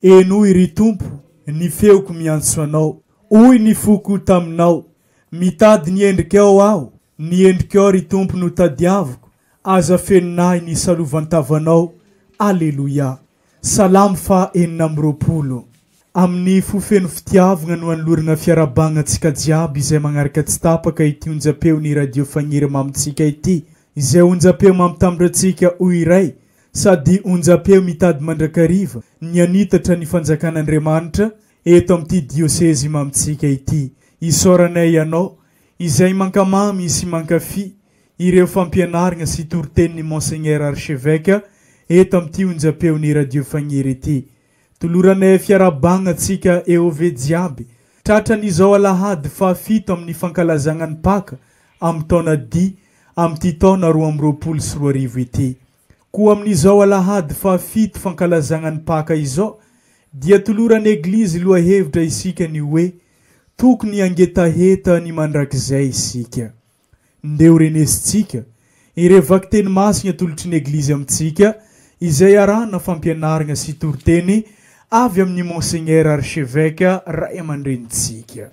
Henoy, ry Tompo, ny feoko miantso Anao. Hoy ny foko taminao, Mitady ny endrikao aho, ny endrikao, ry Tompo, no tadiaviko, aza fenonahy ny salovantavanao. Aleloia. Salamo faha enina amby roapolo. Amin'ny fo feno fitiavagna no anoloragna fiarahabagna antsika jiaby izay magnaraka tsy tapaka ity onjam-peon'ny Radio Fagniry mamintsika ity, izay onjam-peo mampitambatra antsika ho iray Sady onjam-peo mitady mandrakariva ny hanitatra ny fanjakan'Andriamanitra eto amin'ity diosezy mamintsika ity. Isaoranay Ianao izay mankamamy sy mankafy ireo fampianargna sy toritenin'i Monseigneur Archevêque eto amin'ity onjam-peon'i Radio Fagniry ity. Toloranay fiarahabagna antsika EOV jiaby tratran' izao alahady fahafito amin'ny fankalazagna ny Paka amin'ny taona D amin'ity taona roa amby roapolo sy roa arivo ity. Koa amin'izao alahady fahafito fankalazagna ny Paka izao dia toloran'ny Eglizy lohahevitra isika ny hoe, Tokony hangetaheta ny mandrakizay isika. Ndeha ho renesintsika ireo vakiteny masiny atolotry ny Eglizy amintsika izay arahana fampianarana sy toriteny avy amin'ny Monseigneur Archevêque Ray aman-drenintsika.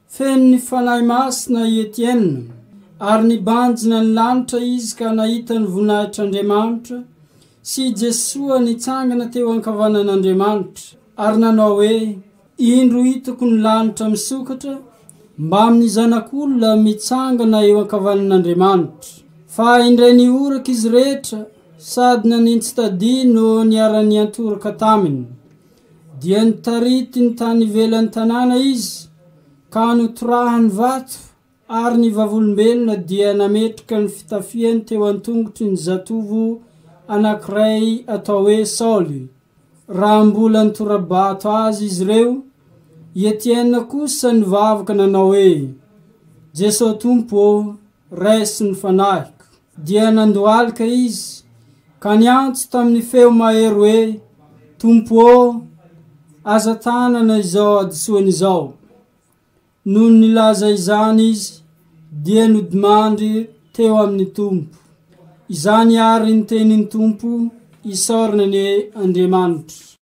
Feno ny Fanahy Masina i Etiena, ary nibanjina ny lanitra izy ka nahita ny voninahitr'Andriamanitra sy i Jesoa nitsangana teo ankavanan'Andriamanitra, ary nanao hoe, Indro hitako ny lanitra misokatra mbamin'ny Zanak'olona mitsangana eo ankavanan'Andriamanitra. Fa indray nihoraka izy rehetra sady nanintsitadihy no niara-niantoraka taminy, dia nitarity ny tany ivelan'ny tanàna izy ka notorahany vato, ary ny Vavolombelona dia nametraka ny fitafiany teo an-tongotry ny zatovo anankiray atao hoe Saoly, raha mbola nitora-bato azy izy ireo. I Etiena kosa nivavaka nanao hoe, Jeso Tompo ô, Resy ny fanahiko. Dia nandohalika izy, ka niantso tamin'ny feo mahery hoe, Tompo ô, aza tanana izao hadisoany izao. Nony nilaza izany izy, dia nodimandry teo amin'ny Tompo. Izany àry ny tenin'ny Tompo, Isaorana anie Andriamanitra.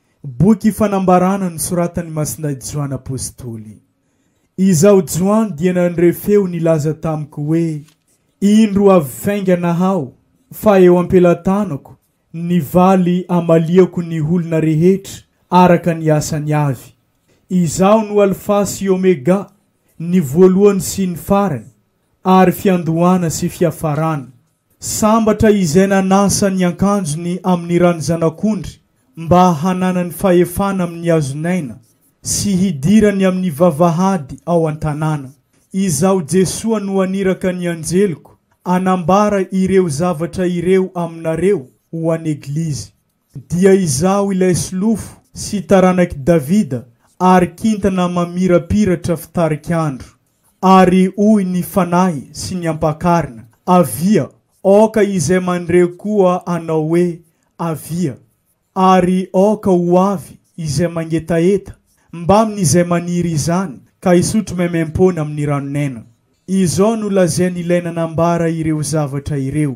Boky fanambarana nosoratan'i Masindahy Joany Apostoly. Izaho Joany dia nandre feo nilaza tamiko hoe, Indro avy faingana aho, fa eo am-pelatanako ny valy hamaliako ny olona rehetra araka ny asany avy. Izaho no Alfa sy Omega, ny voalohany sy ny farany, ary fiandohana sy fiafarana. Sambatra izay nanasa ny ankanjony amin'ny ran'ny Zanak'ondry mba hananany fahefana amin'ny hazon'aina sy hidirany amin'ny vavahady ao an-tanàna. Izaho Jesoa no haniraka ny anjeliko hanambara ireo zavatra ireo aminareo ho an'Eglizy. Dia izaho ilay solofo sy taranak'i Davida ary kintana mamirapiratra fitarik'andro. Ary hoy ny Fanahy sy ny Ampakarina, Avia! Aoka izay mandre koa hanao hoe, Avia! Ary aoka ho avy izay mangetaheta mbamin'izay maniry izany ka hisotro maimaim-poana amin'ny ranon'aina. Izao no lazain'Ilay nanambara ireo zavatra ireo,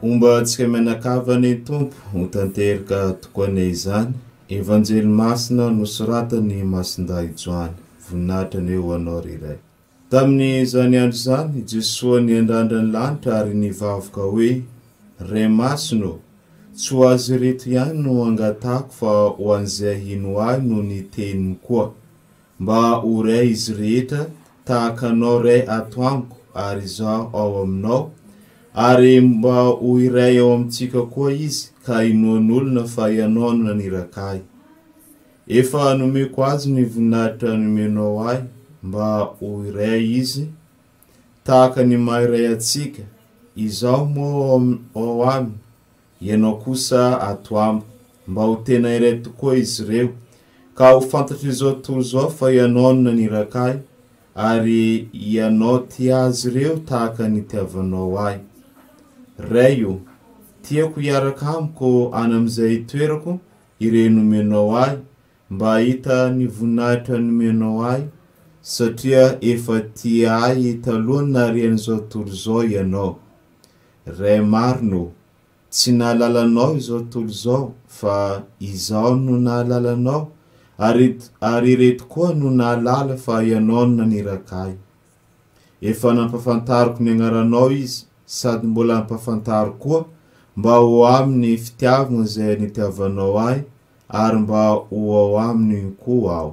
Homba antsika mianakavy ny Tompo ho tanteraka tokoa anie izany Evanjely Masina nosoratan'i Masindahy Joany. Voninahitra anie ho Anao ry Ray. Tamin'izany andro izany i Jesoa niandrandra ny lanitra ary nivavaka hoe, Ray Masina ô, tsy ho azy ireto ihany no angatahako fa ho an'izay hino ahy noho ny teniny koa. Mba ho Ray izy rehetra tahaka Anao Ray ato amiko ary izaho ao Aminao, ary mba ho iray ao amintsika koa Izy ka inoan'olona fa Ianao no naniraka ahy. Efa nomeko Azy ny voninahitra nomenao ahy mba ho iray Izy tahaka ny maha iray antsika, izaho moa ao Aminy, Ianao kosa ato amiko. Mba ho tena iray tokoa izy ireo, ka ho fantatr'izao tontolo izao fa Ianao no naniraka ahy, ary Ianao tia azy ireo tahaka ny itiavanao ahy. Ray ô, tiako hiaraka amiko any amin'izay itoerako ireo nomenao ahy, mba hahita ny voninahitra nomenao ahy, satria efa tia ahy talohan'ny naharian'izao tontolo izao Ianao. Ray marina ô! Tsy nahalala anao izao tolo izao fa izaho no nahalala anao ary ary ireto koa no nahalala fa ianao no naniraka ahy. Efa nampafantariko ny agnaranao izy sady mbola ampafantaro koa mba ho amin'ny fitiavagny izay nitiavanao ahy ary mba ho ao aminy koa aho.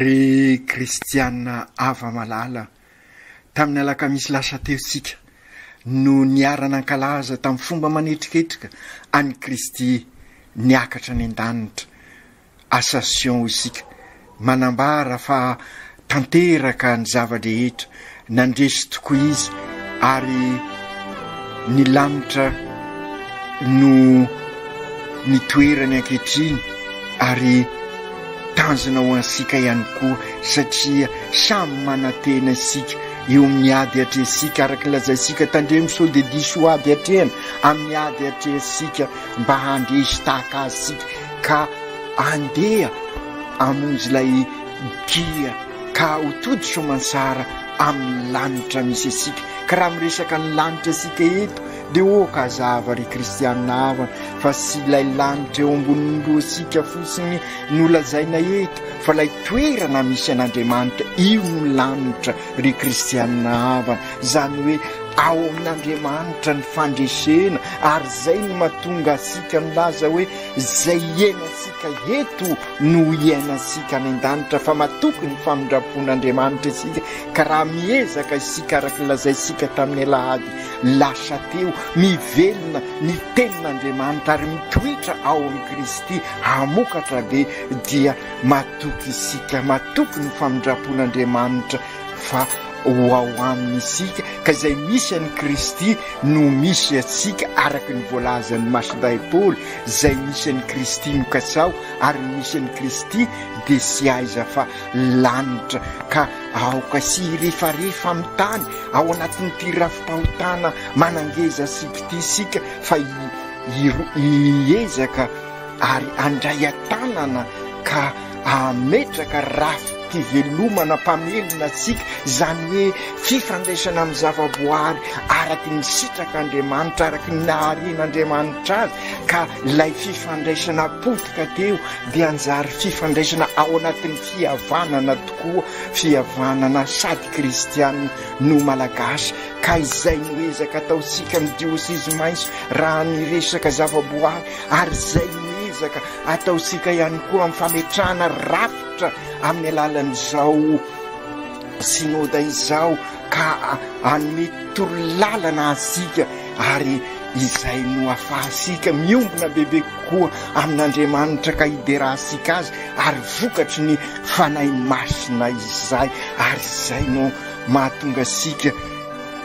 Ry kristiana ava malala, tamin'ny alakamisy lasa teo isika no niara-nankalaza tamin'ny fomba manetriketrika an'i Kristy niakatra any an-danitra Ascension isika, manambara fa tanteraka ny zava-drehetra, nandresy tokoa Izy ary ny lanitra no ny toerany ankehitriny ary tanjona ho antsika ihany koa satria samy manantena isika eo amin'ny ady atrehantsika araka ny lazaintsika tandremo sao dia diso ady atrehana amin'ny ady atrehantsika mba handresy tahaka Azy isika ka andeha hamonjy ilay dia ka ho tody soamantsara amin'ny lanitra misy antsika. Ka raha miresaka ny lanitra isika eto dia ok hazava ry kristianina havana fa tsy ilay lanitra eo ambonin'ny lohantsika fotsiny no lazaina eto fa ilay toerana misy an'Andriamanitra io no lanitra ry kristianina havana, izany hoe ao amin'Andriamanitra ny fandresena ary izay no mahatonga antsika milaza hoe Izay hiainantsika eto no hiainantsika any an-danitra fa matoky ny famindram-pon'Andriamanitra isika ka raha miezaka isika araka ny lazaintsika tamin'ny alahady lasa teo, mivelona ny tenin'Andriamanitra ary mitoetra ao amin'i Kristy hamokatra be dia matoky isika, matoky ny famindram-pon'Andriamanitra. fa ho ao aminy isika, ka izay misy an'i Kristy no misy antsika, araka ny voalazan'ny Masindahy Paoly, izay misy an'i Kristy no katsaho, ary ny misy an'i Kristy dia tsy aiza fa lanitra, ka aoka tsy hirefarefa amin'ny tany ao anatin'ity rafi-pahotana manangezantsika ity isika, fa hiezaka ary handray an-tanana ka hametraka rafi-pivelomana mpamelona antsika, izany hoe fifandraisana amin'ny zavaboary araky ny sitrak'Andriamanitra, araky ny naharian'Andriamanitra azy, ka ilay fifandraisana potika teo dia hanjary fifandraisana ao anatin'ny fihavanana tokoa, fihavanana sady kristiana no malagasy, ka izay no ezaka ataontsika amin'ny diosizimaiso raha ny resaka zavaboary. ary izay miezaka ataontsika ihany koa amin'ny fametrahana rafitra amin'ny alalan'izao synoda izao ka hanome torolalana antsika ary izay no afahantsika miombona bebe kokoa amin'Andriamanitra ka hiderahantsika azy ary vokatry ny fanahy masina izay ary izay no mahatonga antsika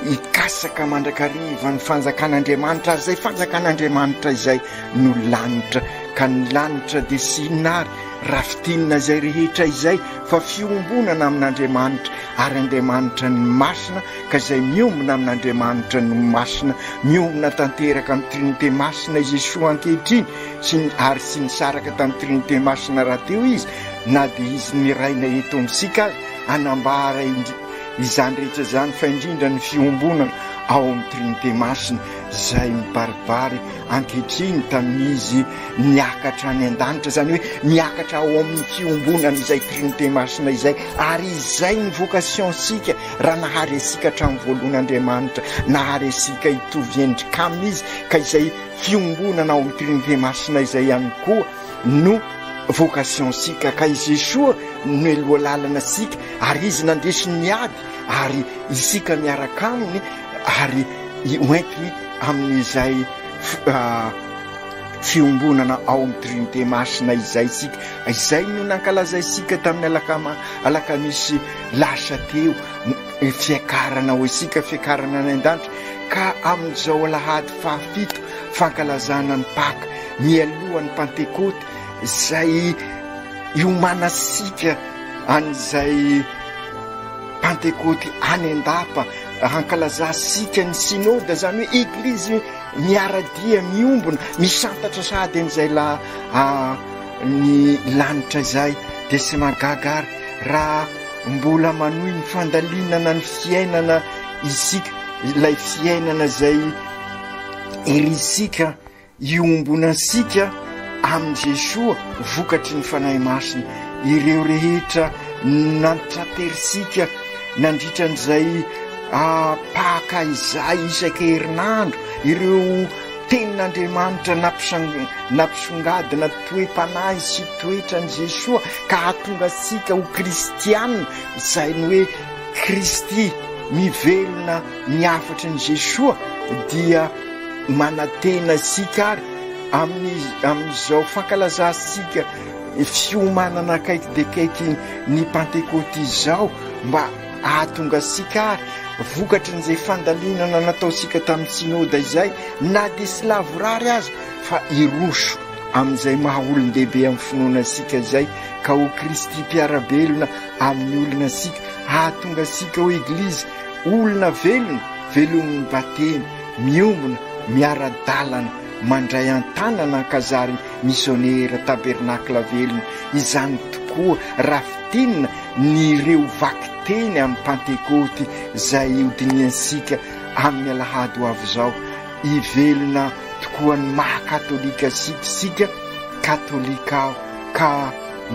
Hikatsaka mandrakariva ny fanjakan'Andriamanitra, ary izay fanjakan'Andriamanitra izay no lanitra, ka ny lanitra dia tsy inona ary raha fintinina izay rehetra izay fa fiombonana amin'Andriamanitra, ary Andriamanitra no masina, ka izay miombona amin'Andriamanitra no masina, miombona tanteraka amin'ny Trinite masina i Jesoa ankehitriny, sy ny, ary tsy nisaraka tamin'ny Trinite masina rahateo Izy, na dia Izy niraina eto amintsika aza, hanambara indri. izany rehetra izany fa indrindra ny fiombonana ao amin'ny Trinite Masina izay mibaribary ankehitriny tamin'izy niakatra any an-danitra, izany hoe miakatra ao amin'ny fiombonana izay Trinite Masina izay, ary izay ny vocation-tsika raha nahary antsika hatramin'ny voalohany Andriamanitra, nahary antsika hitovy endrika Aminy Izy, ka izay fiombonana ao amin'ny Trinite Masina izay ihany koa. no vocation sika ka i Jesoa no eloha lalana sika ary izy nandesy ny ady ary isika miaraka aminy ary hoentiny amin'izay fiombonana ao amin'ny trinite masina izay isika izay no nankalazaisika tamin'ny alakama alakamisy lasa teo fiakarana ho isika fiakarana any an-danitra ka amin'izao alahady fahafito fankalazana ny Paka mialohan'ny Pantekoty izay iomanantsika an'izay Pantekoty any an-dapa, hankalazantsika ny Synode, izany hoe Eglizy miara-dia, miombona, misantatra sahady an'izay la ny lanitra izay, dia tsy mahagaga ary raha mbola manohy ny fandalinana ny fiainana isika, ilay fiainana izay. Herintsika hiombona antsika amin'i Jesoa vokatry ny Fanahy Masina ireo rehetra nantra-perintsika nandritra an'izay paka izay isaka herinandro, ireo tenin'Andriamanitra nampisongadina toe-panahy sy toetran'i Jesoa ka hahatonga antsika ho kristiana, izay ny hoe Kristy mivelona. Ny hafatry ny Jesoa dia manantena antsika ary amin'ny amin'izao fankalazantsika fiomanana akaiky dia akaiky ny Pantekoty izao mba hahatonga antsika ary vokatry an'izay fandalinana nataontsika tamin'ny Synoda izay na dia tsy lavorary aza fa hiroso amin'izay maha olon-dehibe amin'ny finoana antsika izay ka ho Kristy mpiara-belona amin'ny olona antsika hahatonga antsika ho Eglizy Olona velona, velomin'ny batemy, miombona, miara-dalana, mandray an-tanana an-kazary misionera, tabernakla velona. Izany tokoa, raha fintinina, ny ireo vakiteny amin'ny Pantekoty izay hodinihansika amin'ny alahady ho avy izao. Hivelona tokoa ny maha-katolika antsika isika, Katolika aho ka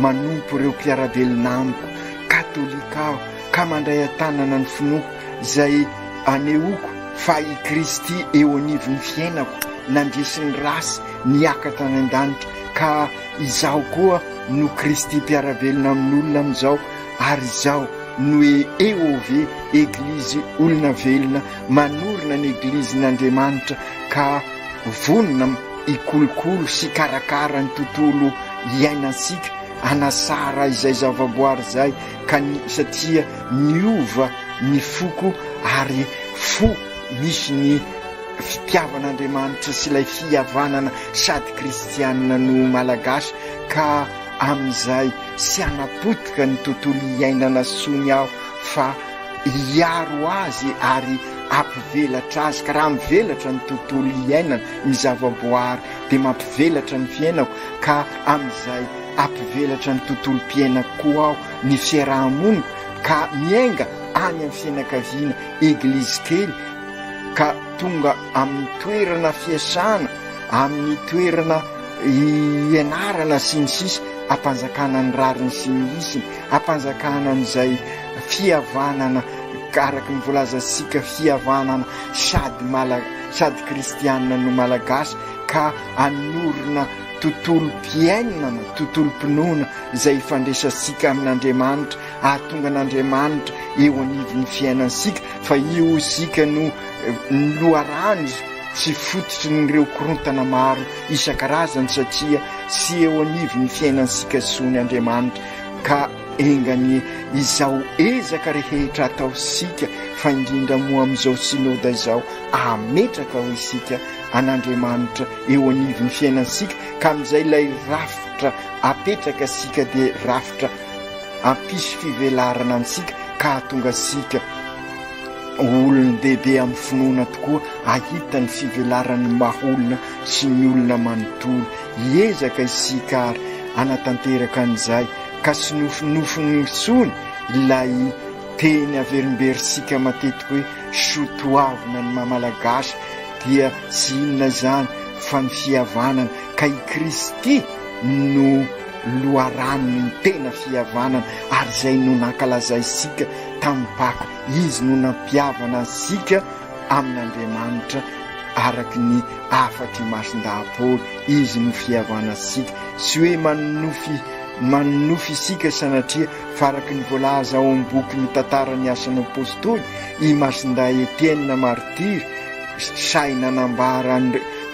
manompo ireo mpiara-belona amiko, Katolika aho. ka mandray an-tanana ny finoako izay anehoako fa i Kristy eo anivon'ny fiainako, nandresy ny ratsy nihiaka tany an-danitra, ka izaho koa no Kristy mpiara-belona amin'olona amin'izao, ary izao no EOV, Eglizy olona velona, manorina ny Egilizin'Andriamanitra ka vonona hikolokolo sy hikarakara ny tontolo iainantsika, hanasara izay zavaboary izay ka ny satria niova ny foko ary fo misy ny fitiavan'Andriamanitra sy ilay fihavanana sady kristianina no Malagasy ka amin'izay tsy hanapotika ny tontolo iainana tsony aho fa hiaro azy ary hampivelatra azy ka raha mivelatra ny tontolo iainana ny zavaboary dia mampivelatra ny fiainako ka amin'izay Hampivelatra ny tontolom-piainako koa aho, ny fiaraha-moniko, ka miainga any amin'ny fianakaviana, eglizy kely, ka tonga amin'ny toerana fiasana, amin'ny toerana ianarana, sy ny sisa Hampanjakana ny rariny sy ny hisiny, hampanjakana an'izay fihavanana, araka ny voalazantsika, fihavanana sady mala, sady kristiana no malagasy, ka hanorina. tontolom-piainana, tontolom-pinoana izay ifandraisantsika amin'Andriamanitra, hahatonga an'Andriamanitra eo anivon'ny fiainantsika, fa io isika no loharano sy fototry ny ireo korontana maro isan-karazany satria tsy eo anivon'ny fiainantsika intsony Andriamanitra ka enga anie izao ezaka rehetra ataontsika fa indrindra moa amin'izao Synoda izao ahametraka ho isika an'Andriamanitra eo anivon'ny fiainantsika ka amin'izay ilay rafitra apetraka sika dia rafitra ampisy fivelarana antsika ka hatonga sika olon-dehibe amin'ny finoana tokoa ahita ny fivelaran'ny maholona sy ny olona manontolo hiezaka isika ary anatanteraka an'izay ka sy nofinofiny misony ilay teny averimberisika matetika hoe sotoavina ny mamalagasy Dia tsy inona izany fa ny fihavanana, ka i Kristy no loharanony, ny tena fihavanana, ary izay no nankalazaisika tamin'ny Paka, Izy no nampihavana antsika amin'Andriamanitra araka ny afatry imason-dahapory, Izy no fihavanantsika, tsy hoe manonofy manonofy isika sanatria, Faraky ny voalaza ao amin'ny boky mitantara ny asan'ny Apostoly, i Masindahy Etienina Martiry, sahy nanambara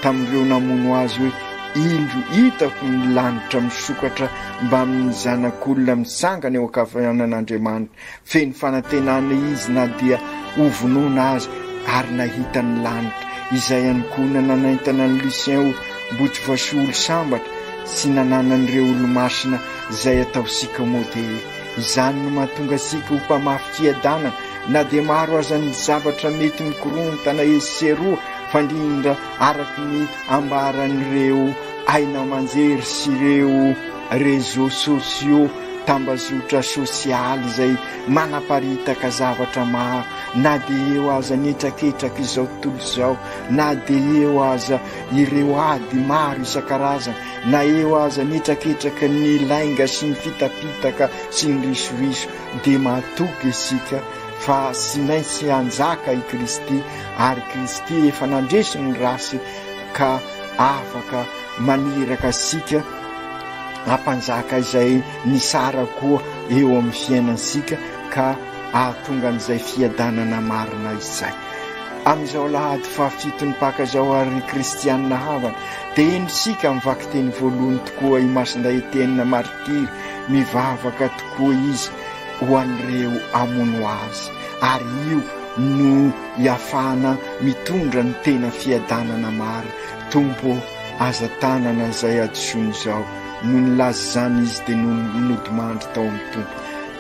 tamin'ireo namono azy hoe, Indro hitako ny lanitra misokatra mbamin'ny zanak'olona mitsangana eo an-kavanan'Andriamanitra. Feno fanantenana izy na dia hovonoina aza, ary nahita ny lanitra. Izay ihany koa no nanaintana an'i Lucien ho mbotsy voasolo sambatra sy nananan'ireo olomasina Izay ataontsika moa dia izany no mahatonga antsika ho mpamafy fiadanana na dia maro aza ny zavatra mety mikorontana etsy sy eroa fa indrindra araka ny ambaran'ireo haino aman-jery sy ireo réseaux sociaux, tambazotra sosialy, izay manaparitaka zavatra maro na dia eo aza ny hetraketrak'izao tontolo izao na dia eo aza ireo ady maro isan-karazany. Na eo aza ny hetraketraky ny lainga sy ny fitapitaka sy ny risoriso dia matoky isika fa tsy maintsy hanjaka i Kristy ary Kristy efa nandresy ny ratsy ka afaka maniraka antsika hampanjaka izay nitsara koa eo amin'ny fiainantsika ka ahatonga an'izay fiadanana marina izay. Amin'izao alahady fahafito nipaka izao ary ry kristianina havana dia eny isika amin'ny vakiteny voalohany tokoa i Masindahy Etienne martiry, mivavaka tokoa izy ho an'ireo hamono azy ary io no iafahana mitondra ny tena fiadanana mary. Tompo ô! Aza tanana izay hadisoany izao. Noho nilaza izany izy dia nodimandry tao amin'ny Tompo.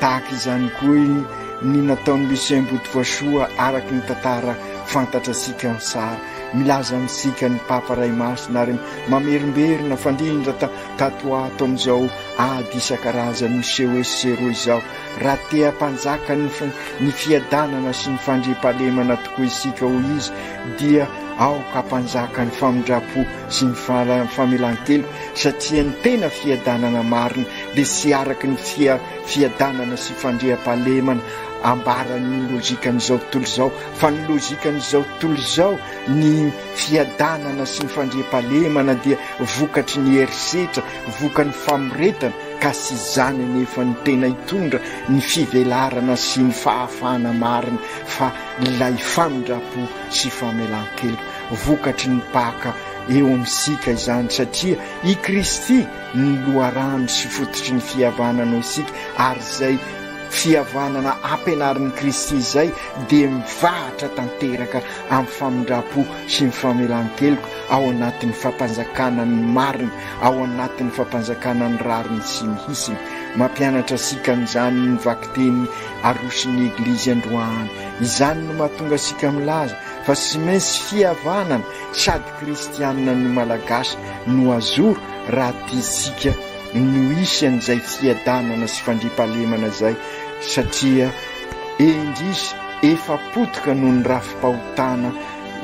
Tahaka izany koa i. Ny nataon'i Lucien Botovoasoa araka ny tantara fantatra antsika amin'ny sary, milaza amintsika ny Papa Ray Masina ary mamerimberina fandrindra ta tato ho ato amin'izao ady isan-karazany miseho etsy sy eroa izao, raha te hampanjaka ny fi ny fiadanana sy ny fandriampahalemana tokoa isika hoy izy dia aoka hampanjaka ny famindram-po sy ny fala famelan-keloka satria ny tena fiadanana marina dia tsy araka ny fia Fiadanana sy fandriampahalemana ambaran'ny lojikan'izao tontolo izao, fa ny lojikan'izao tontolo izao, ny fiadanana sy ny fandriampahalemana dia vokatry ny herisetra, vokan'ny famoretana, ka tsy izany anefa no tena hitondra ny fivelarana sy ny fahafahana marina, fa ilay famindrampo sy famelan-keloka. Vokatry ny Paka eo amintsika izany, satria i Kristy ny loharano sy fototry ny fihavananao isika, ary izay fihavanana ampianarin'i Kristy izay dia mivahatra tanteraka amin'ny famindram-po sy ny famelan-keloka ao anatin'ny fampanjakana ny marina, ao anatin'ny fampanjakana ny rariny sy ny hisiny. Mampianatra antsika an'izany ny vakiteny aroson'ny Eglizy androany. Izany no mahatonga antsika milaza fa tsy maintsy fihavanana sady Kristianina ny Malagasy no azoro raha tiantsika no hisy an'izay fiadanana sy fandriampahalemana izay satria indrisy efa potika noho ny rafi-pahotana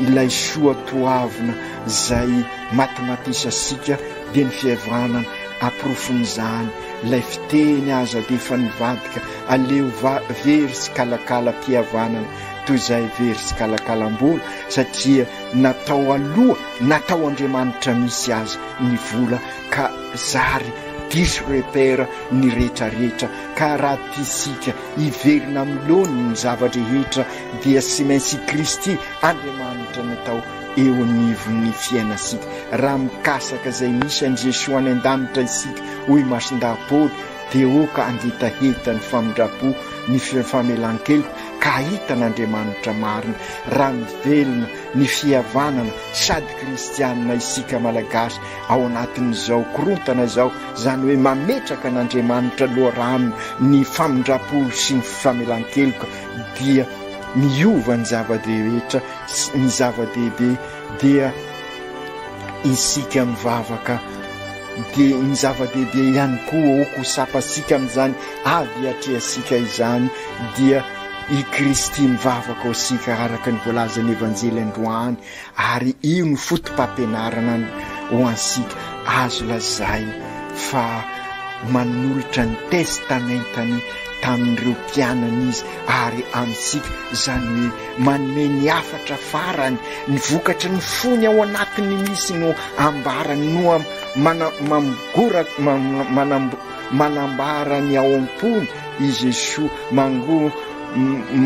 ilay soa toavina izay matimatisasika dia ny fihavanana aporofon'izany ilay fiteny aza dia efa nivadika aleo va very tsikalakala mpihavanana toy izay very tsikalakalam-bola satria na tao aloha na tao Andriamanitra misy aza ny vola ka zary diso repère ny rehetra rehetra ka raha tiasika hiverina amin'ny laoniny ny zava-drehetra dia tsy maintsy i Kristy Andriamanitra no atao eo anivon'ny fiainasika raha mikasaka izay misy an'i Jesoa any an-danitra isika hoy i Masindahy Paoly dia oka hangetaheta ny famindram-po ny famelan-keloka ka hahita an'Andriamanitra marina raha mivelona ny fihavanana sady kristianina isika Malagasy ao anatin'izao korontana izao, izany hoe mametraka an'Andriamanitra loharano ny famindram-po sy ny famelan-keloka dia miova ny zava-drehetra sy ny zava-dehibe. dia isika mivavaka dia ny zava-dehibe ihany koa ho kosapantsika amin'izany ady atrehantsika izany dia i Kristy mivavaka ho isika araka ny voalazan'ny Evanjely androany ary io ny foto-pampianarana ho antsika azo lazaina fa manolotra ny testamentany tamin'ireo mpianany izy ary amintsika izany hoe Manome ny hafatra farany, ny vokatry ny fony ao anatiny misy no ambarany no manambara ny ao am-pony i Jesoa, mango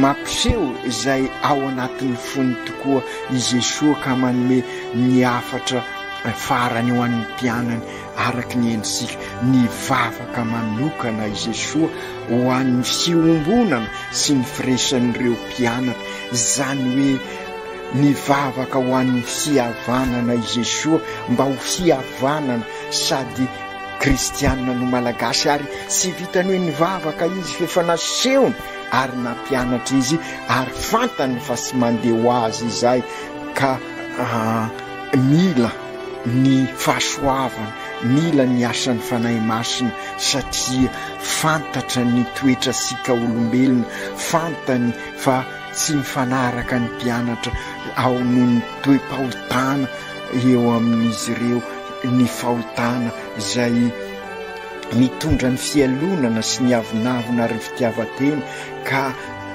mampiseho izay ao anatin'ny fony tokoa i Jesoa ka manome ny hafatra farany ho an'ny mpianany. araka ny endritsika, ny vavaka manokana i Jesoa ho an'ny fiombonana sy ny firaisan'ireo mpianatra, izany hoe ny vavaka ho an'ny fihavanana i Jesoa mba ho fihavanana sady kristiana no Malagasy ary tsy vitan'ny hoe nivavaka izy fa efa nasehony ary nampianatra izy ary fantany fa tsy mandeha ho azy izay ka ah, mila ny fahasoavana, mila ny asan'ny Fanahy Masina satria fantatra ny toetratsika olombelona, fantany fa tsy mifanaraka ny mpianatra ao noho ny toe-pahotana eo amin'izy ireo, ny fahotana izay mitondra ny fialonana sy ny avonavona ary ny fitiavan-tena ka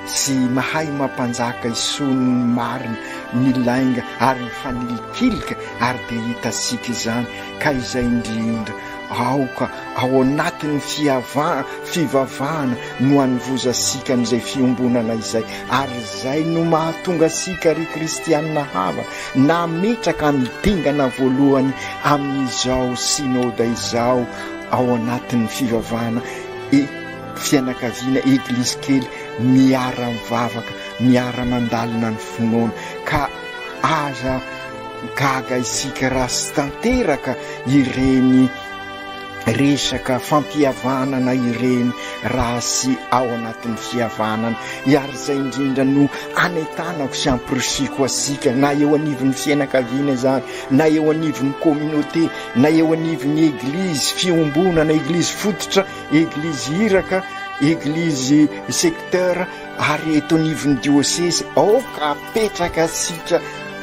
Tsy mahay mampanjaka isony ny marina, ny lainga ary ny fanilikilika ary dia hitantsika izany ka izay indrindra aoka ao anatin'ny fiavaha, fivavahana no anovozantsika an'izay fiombonana izay ary izay no mahatonga antsika ry kristianina havana nametraka ny dingana voalohany amin'izao synoda izao ao anatin'ny fivavahana fianakaviana eglizy kely miara mivavaka miara mandalina ny finoana ka aza gaga isika raha sy tanteraka ireny resaka fampihavanana ireny raha sy ao anatin'ny fihavanana iary izay indrindra no anetanako sy ampirisiko asika na eo anivon'ny fianakaviana izany na eo anivon'ny communauté na eo anivon'ny eglizy fiombonana eglizy fototra Eglizy iraka, eglizy secteur ary eto anivon'ny diosezy aoka apetraka sika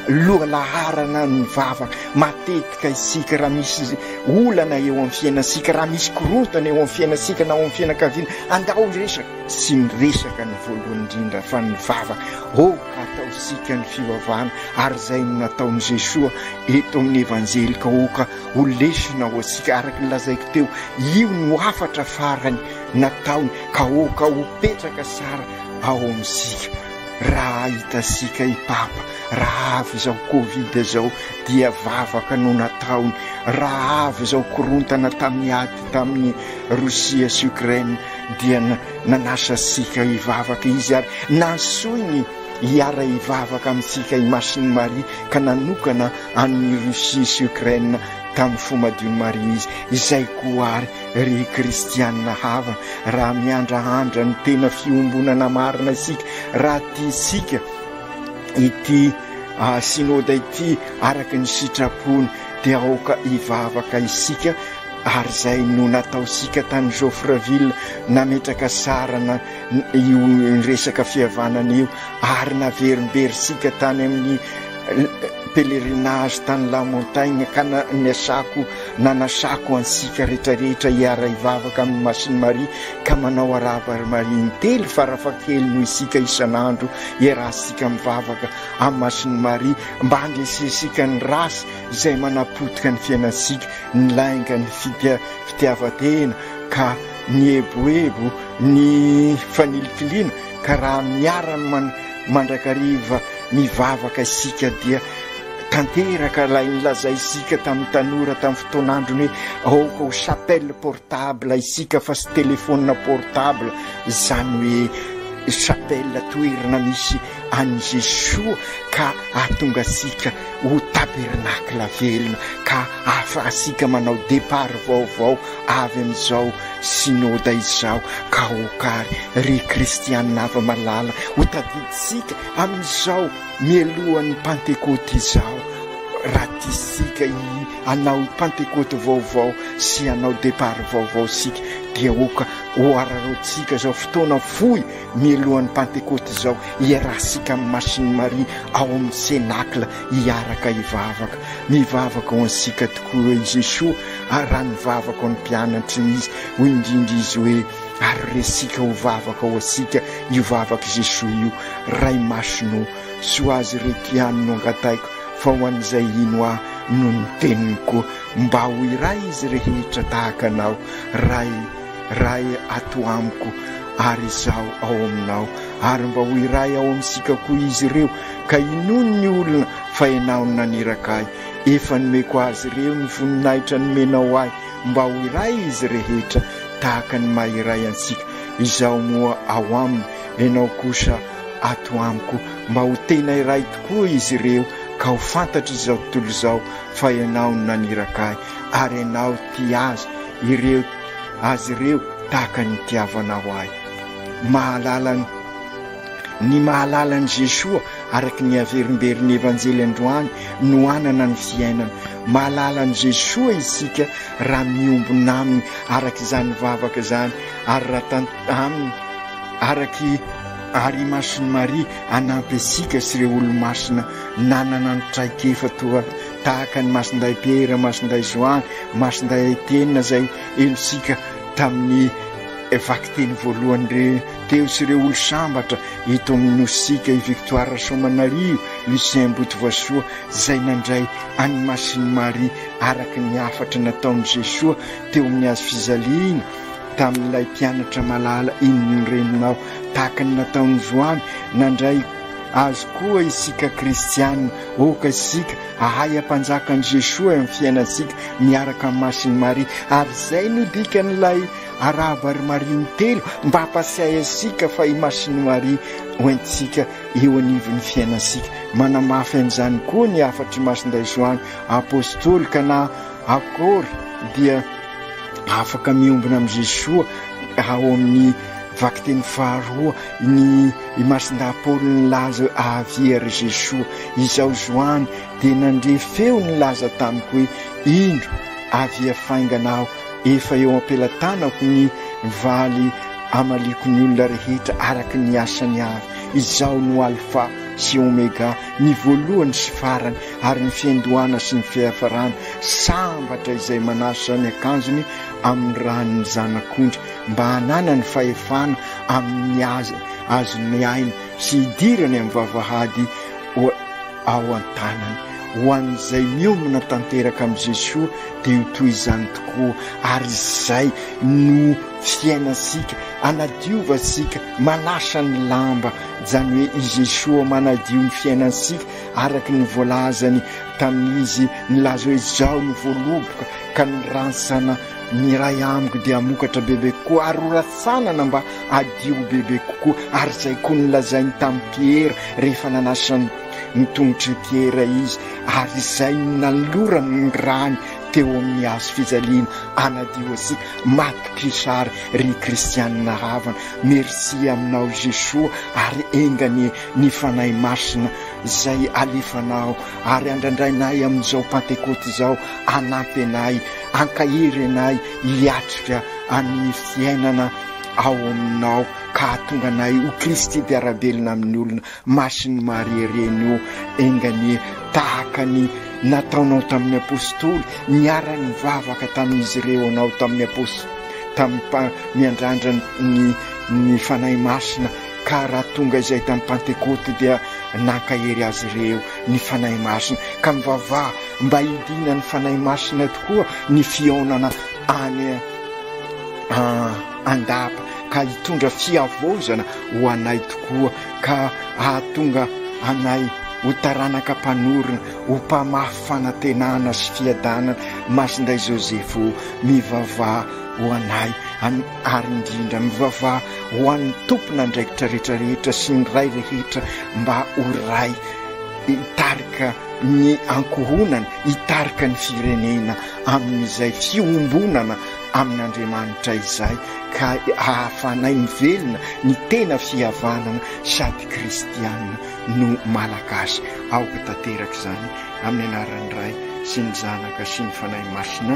lohalaharana ny vavaka matetika isika raha misy olana eo amin'ny fiainantsika raha misy korontana eo amin'ny fiainantsika na ao amin'ny fianakaviana andao hiresaka sy miresaka ny voalohany indrindra fa ny vavaka aoka ataosika ny fivavahana ary izay no nataon'i Jesoa eto amin'ny evanjelika aoka Ho lesona ho antsika araka ny lazaiko teo, io no hafatra farany nataony ka aoka ho petraka tsara ao amintsika. Raha hitantsika i Papa raha avy izao Covid izao dia vavaka no nataony, raha avy izao korontana tamin'ny ady tamin'i Rosia sy Ukraine dia nanasa antsika hivavaka izy ary nantsoiny hiara-hivavaka amintsika i Masin'i Maria ka nanokana an'i Russie sy Ukraine tamin'ny fo madion'i Maria izy. Izay koa àry, ry kristianina havana, raha miandrandra ny tena fiombonana marina isika, raha tiantsika ity Synoda ity araka ny sitrapony, dia aoka hivavaka isika ary izay no nataontsika tany Joffreville, nametraka sarana io resaka fihavanana io ary naverimberintsika tany amin'ny pèlerinage tany la montagne ka niasako nanasako antsika rehetra rehetra hiara hivavaka amin'ny Masiny Maria ka manao arahaba ry Maria intelo farafakely noho isika isan'andro iarahantsika mivavaka amin'ny Masiny Maria mba handresensika ny ratsy izay manapotika ny fiainantsika ny lainga ny fitiavatena ka Nieboebo ny fanilitiliana ka raha miarany man mandrakariva mivavaka isika dia tanteraka ilay nilazainsika tamin'ny tanora tamin'ny fotoan'androny hoe aoka ho chapelle portable isika fa tsy telephone portable izany hoe chapelle toerana misy an'i Jesoa ka hahatonga antsika ho tabernacle velona ka ahafahantsika manao départ vaovao avy amin'izao Synode izao ka hokary ry Kristianina hava-malala ho tadidintsika amin'izao mialohan'ny Pantekoty izao raha tiantsika hanao Pantekoty vaovao sy hanao départ vaovao isika dia oka ho araraotintsika izao fotoana fohy Mialohan'ny Pantekôty izao, iarahantsika amin'i Masin'i Maria ao amin'ny Cénacle hiaraka hivavaka. Mivavaka ho antsika tokoa hoe i Jesoa, ary raha nivavaka ho an'ny mpianatriny Izy, hoy indrindra Izy hoe, Ary resika ho vavaka ho antsika io vavak'i Jesoa io, Ray Masina ô, tsy ho Azy ireto ihany no angataiko, fa ho an'izay hino Ahy noho ny teniny koa, mba ho iray izy rehetra tahaka Anao, Ray. Ray ato amiko ary izaho ao aminao, ary mba ho iray ao amintsika koa izy ireo, ka inoany ny olona fa ianao no naniraka ahy. Efa nomeko azy ireo ny voninahitra nomenao ahy, mba ho iray izy rehetra, tahaka ny maha iray antsika. Izaho moa ao aminy, ianao kosa ato amiko, mba ho tena iray tokoa izy ireo, ka ho fantatr'izao tontolo izao fa ianao no naniraka ahy, ary ianao tia azy ireo. azy ireo tahaka ny itiavanao ahy. Mahalala ny ny mahalala an'i Jesoa araka ny averimberin'ny Evanjely androany no hanana ny fiainana. Mahalala an'i Jesoa isika raha miombona aminy araka izany vavaka izany ary raha tan- aminy araky ary i Masin'i Maria hanampy antsika sy ireo olomasina nanana ny traikefa toa tahaka an'i Masindahy Pierre, Masindahy Joan, Masindahy Etienne izay helotsika tamin'ny vakiteny voalohany re teo sy ireo olo-sambatra eto amin'ny Nositsika, i Victoire Rasoamanarivo, Lucien Botovasoa izay nandray an'i Masin'i Maria araka ny hafatra nataon'i Jesoa teo amin'ny hazo fijaliana tamin'ilay mpianatra malala, Inn ny reninao, tahaka ny nataon'i Joany nandray Azo koa isika kristiana, aoka isika ahay hampanjaka an'i Jesoa amin'ny fiainantsika miaraka amin'i Masin'i Maria, ary izay no dikan'ilay Arahaba ry Maria ny telo mba hampasiahy antsika fa i Masin'i Maria hoentintsika eo anivon'ny fiainantsika. Manamafy an'izany koa ny hafatr'i Masindahy Joany Apostoly ka na akory dia afaka miombona amin'i Jesoa ao amin'ny Vakiteny faharoa ny imason-dahapolo nilaza hoe avy ery Jesoa. Izaho Zoany dia nandre feo nilaza tamiko hoe indro avia faingana aho. Efa eo am-pelatanako ny valy amaliako ny olona rehetra araka ny asany avy. Izaho no Alfa sy Omega, ny voalohany sy farany ary ny fiandohana sy ny fiafarana. Sambatra izay manasa ny akanjony amin'ny ran'ny Zanak'ondry. mba hananany fahefana amin'ny azy azony mihaino sy hidirany amin'ny vavahady ao an-tanany. Ho an'izay miomana tanteraka amin'i Jesoa dia ho toy izany tokoa, ary izay no fiainantsika, anadiovatsika, manasa ny lamba, izany hoe i Jesoa manadio ny fiainantsika araka ny voalazany tamin'izy nilaza hoe, Izao no voaloboka ka ny rantsana Miray amiko dia hamokatra bebe kokoa ary ho ratsanana mba hadio ho bebe kokoa, ary izay koa no lazainy tamin'i Piera rehefa nanasany ny tongotr'i Piera izy, ary izay no nanolorany ny rany teo amin'ny hazo fijaliana hanadio antsika, matokisa ary ry kristianina havana, merci aminao Jesoa ary enga anie ny Fanahy Masina izay alefanao ary andrandrainay amin'izao Pantekoty izao hanampy anay Ankahery anay hiatrika amin'ny fiainana ao aminao ka hahatonga anay ho Kristy mpiara-belona amin'ny olona. Masin'i Maria Reny o, enga anie tahaka ny nataonao tamin'ny Apostoly, niara-nivavaka tamin'izy ireo anao tamin'ny Apost. Tamin'ny miandrandra ny ny Fanahy Masina ka raha tonga izay tamin'ny Pantekoty dia nankahery azy ireo ny Fanahy Masina ka mivavaha Mba hidinan'ny Fanahy Masina tokoa ny fihaonana any an-dapa ka hitondra fihavaozana ho anay tokoa ka hahatonga anay ho taranaka mpanorina, ho mpamafy fanantenana sy fiadanana. Masindahy Joseph o, mivavaha ho anay ary indrindra mivavaha ho an'ny tompon'andraikitra rehetra rehetra sy ny Ray rehetra mba ho Ray hitarika ny ankohonana hitarika ny firenena amin'izay fiombonana amin'Andriamanitra izay ka ahafanay mivelona ny tena fihavanana sady kristiana no Malagasy. Aoka tanteraka izany amin'ny anaran'ny Ray sy ny Zanaka sy ny Fanahy Masina.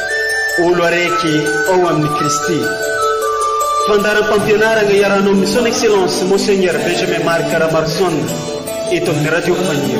Olo araiky ao amin'i Kristy. Fandaharam-pampianarana iarahanao amin'i Son Excellence Monseigneur Benjamin Marc Ramarson eto amin'ny Radio Faniry.